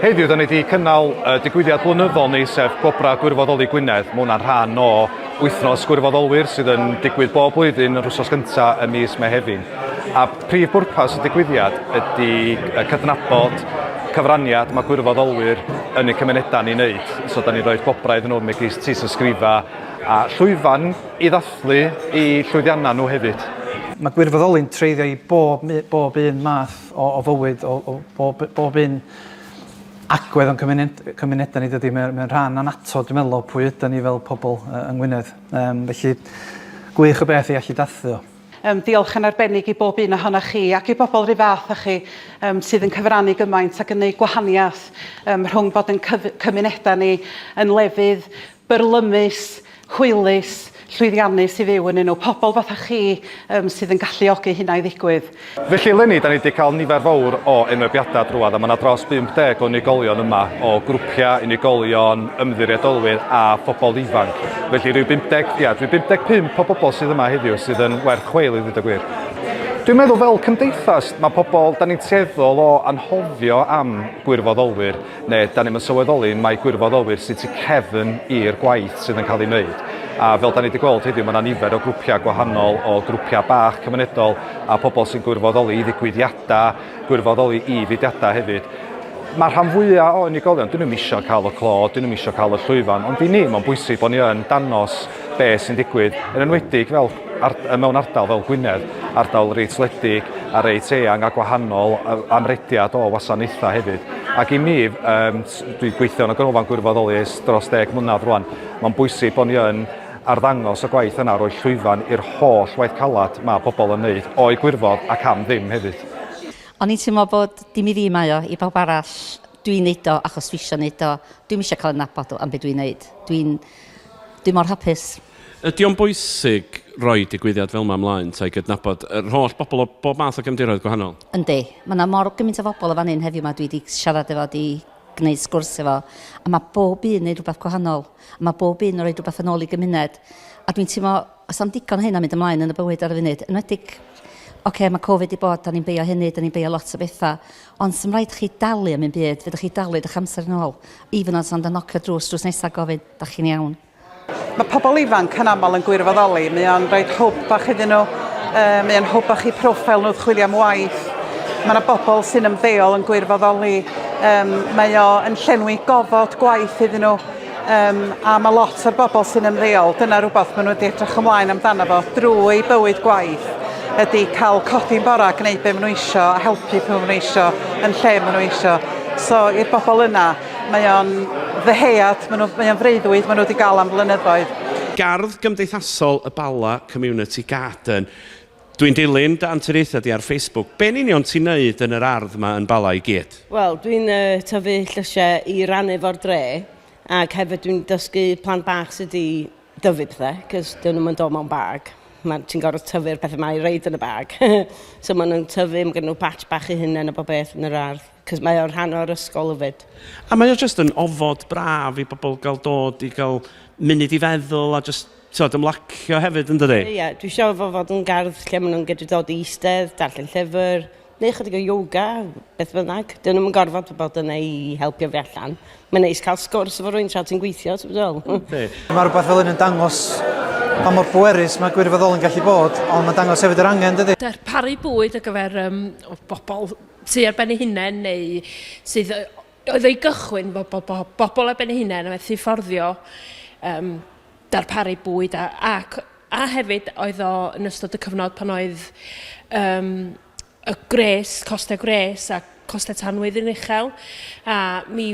Heddiw, da ni wedi cynnal uh, digwyddiad blynyddol ni, sef Gwobrau Gwirfoddoli Gwynedd. Mae hwnna'n rhan o wythnos gwirfoddolwyr sydd yn digwydd bob blwyddyn yr wsos gyntaf y mis Mehefin. A prif bwrpas y digwyddiad ydy cydnabod cyfraniad mae gwirfoddolwyr yn y cymunedau ni'n neud. So, da ni'n rhoi gwobrau iddyn nhw megis tis ysgrifa a llwyfan i ddathlu i llwyddiannau nhw hefyd. Mae gwirfoddoli'n treiddio i bob, bob un math o, o fywyd, o, o bob, bob un agwedd o'n cymuned, cymunedau ni dydy, mae'n mae rhan anato, dwi'n meddwl, o pwy ydyn ni fel pobl uh, yng Ngwynedd. Um, felly, gwych o beth i allu dathlu o. Um, diolch yn arbennig i bob un ohonoch chi ac i bobl rhyw fath â chi um, sydd yn cyfrannu gymaint ac yn gwneud gwahaniaeth um, rhwng bod yn cymunedau ni yn lefydd byrlymus hwylus, llwyddiannus i fyw ynnyn nhw, pobl fatha chi yym sydd yn galluogi hynna i ddigwydd. Felly eleni, da ni wedi cael nifer fawr o enwebiadau drwodd a mae yna dros 50 o unigolion yma o grwpiau, unigolion, ymddiriedolwyr a phobl ifanc. Felly rhyw 50, ia, rhyw 55 o bobl sydd yma heddiw sydd yn werth chweil i ddweud y gwir. Dwi'n meddwl fel cymdeithas, mae pobl, da ni'n tueddol o anghofio am gwirfoddolwyr. neu dan ni'm yn sylweddoli mae gwirfoddolwyr sy'n tu cefn i'r gwaith sydd yn cael ei wneud. A fel dan ni wedi gweld heddiw, mae yna nifer o grwpiau gwahanol o grwpiau bach cymunedol a pobl sy'n gwirfoddoli i ddigwyddiadau, gwirfoddoli i fudiadau hefyd. Mae rhan fwyaf o unigolion, dyn nhw'n eisiau cael y clo, dyn nhw'n eisiau cael y llwyfan, ond i ni mae'n bwysig bod ni yn danos beth sy'n digwydd, yn enwedig fel Ard, mewn ardal fel Gwynedd, ardal reit wledig a reit eang a gwahanol, amrediad o wasanaethau hefyd. Ac i mi, um, dwi'n gweithio yn y Ganolfan Gwirfoddoli ers dros deg mlynedd rwan, mae'n bwysig bod ni yn arddangos y gwaith yna, roi llwyfan i'r holl waith calad mae pobl yn wneud, o'i gwirfodd ac am ddim hefyd. O'n i'n teimlo bod dim i fi mae o, i bawb arall, dwi'n neud o achos fi eisiau neud o, dwi'm eisiau cael ei nabod am beth dwi'n neud. Dwi'n... dwi mor hapus. Ydy o'n bwysig roi digwyddiad fel 'ma ymlaen ta i gydnabod yr holl bobl o bob math o gefndiroedd gwahanol? Yndi. Mae 'na mor gymaint o bobl yn fan hyn heddiw 'ma dwi 'di siarad efo, 'di gwneud sgwrs efo, a mae bob un yn gwneud rhywbeth gwahanol. Mae bob un yn rhoi rhywbeth yn ôl i gymuned. A dwi'n teimlo, os am digon o hyn yn mynd ymlaen yn y bywyd ar y funud, yn enwedig, ocê, mae Covid 'di bod, da ni'n beio hynny, da ni'n beio lot o bethau, ond sy'm rhaid chi dalu am un byd, fedrwch chi dalu eich amser yn ôl, even os ond yn nocio drws drws nesa a gofyn, 'dach chi'n iawn? Mae pobl ifanc yn aml yn gwirfoddoli, mae o'n rhaid hwb bach iddyn nhw, uh, mae o'n hwb bach i profil nhw chwilio am waith. Mae yna bobl sy'n ymddeol yn gwirfoddoli, um, mae o yn llenwi gofod gwaith iddyn nhw, um, a mae lot o'r bobl sy'n ymddeol, dyna rhywbeth maen nhw wedi edrych ymlaen amdano fo drwy bywyd gwaith, ydy cael codi'n bora, gwneud be maen nhw eisiau, a helpu pe maen nhw eisiau, yn lle maen nhw eisiau. So i'r bobl yna, Mae o'n ddyhead, mae nhw, mae o'n freuddwyd, mae nhw wedi gael am flynyddoedd. Gardd Gymdeithasol y Bala Community Garden. Dwi'n dilyn dy anturiaethau di ar Facebook. Be'n union ti'n neud yn yr ardd yma yn Bala i gyd? Wel, dwi'n uh, tyfu llysiau i rannu fo'r dre, ac hefyd dwi'n dysgu plant bach sydd wedi dyfu pethau, cos dyn nhw'n dod mewn bag. Ti'n gorfod tyfu'r pethau mae i reid yn y bag. so maen nhw'n tyfu, mae gen nhw batch bach i hunain a bob beth yn yr ardd. Cos mae o'n rhan o'r ysgol yfyd. A mae o jyst yn ofod braf i bobl gael dod i gael munud i feddwl a jyst tywed, ymlacio hefyd yn dydi? Ie, ie. Dwi eisiau fo fod yn gardd lle maen nhw'n gydru dod i eistedd, darllen llyfr, neu chydig o yoga, beth bynnag. Dyn nhw'n gorfod bod yna i helpu fi allan. Mae'n neis cael sgwrs efo rwy'n tra ti'n gweithio, ti'n fel? Mae rhywbeth fel hyn yn dangos pa mor bwerus mae gwirfoddol yn gallu bod, ond mae'n dangos hefyd yr angen, dydy? Darparu bwyd ar gyfer um, bobl sy ar ben ei hunain neu sydd yy oedd o'i gychwyn bo- bo- bo- bobl ar ben ei hunain a methu fforddio um, darparu bwyd a, ac, a hefyd oedd o yn ystod y cyfnod pan oedd um, y gwres, costau gwres a costau tanwydd yn uchel a mi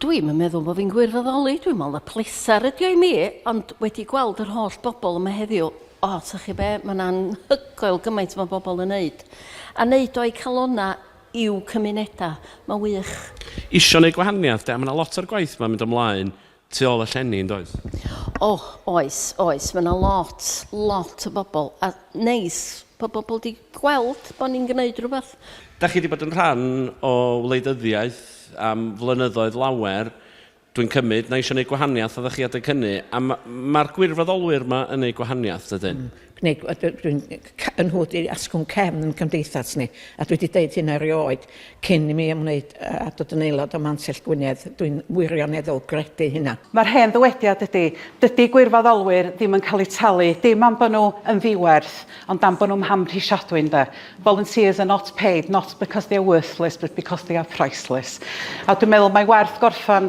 Dwi'm yn meddwl bo' fi'n gwirfoddoli, dwi'n me'wl na pleser ydi o i mi, ond wedi gweld yr holl bobol yma heddiw, o, ta chi be', ma'n anhygoel gymaint ma' bobol yn neud, a neud o'u calonna i'w cymuneda, ma'n wych. Isio neud gwahaniath 'de, a ma' 'na lot o'r gwaith 'ma'n mynd ymlaen Tu ôl y llenni, yn does? O, oes, oes. Mae yna lot, lot o bobl. A neis bod pobl wedi gweld bod ni'n gwneud rhywbeth. Dach chi wedi bod yn rhan o wleidyddiaeth am flynyddoedd lawer, dwi'n cymryd, na eisiau gwneud gwahaniaeth oeddech chi adeg hynny, a mae'r gwirfoddolwyr yma yn gwneud gwahaniaeth, dydyn? gwneud, a dwi'n yn hwyd i asgwrn cefn yn cymdeithas ni, a dwi wedi deud hyn erioed, cyn i mi ymwneud a dod yn aelod o Mantell Gwynedd, dwi'n wirioneddol gredu hynna. Mae'r hen ddywediad ydy, dydy gwirfoddolwyr ddim yn cael eu talu, dim am bod nhw yn ddiwerth, ond am bod nhw'n mhamhrisiadwy, ynde. Volunteers are not paid, not because they are worthless, but because they are priceless. A dwi'n meddwl mai werth gorffen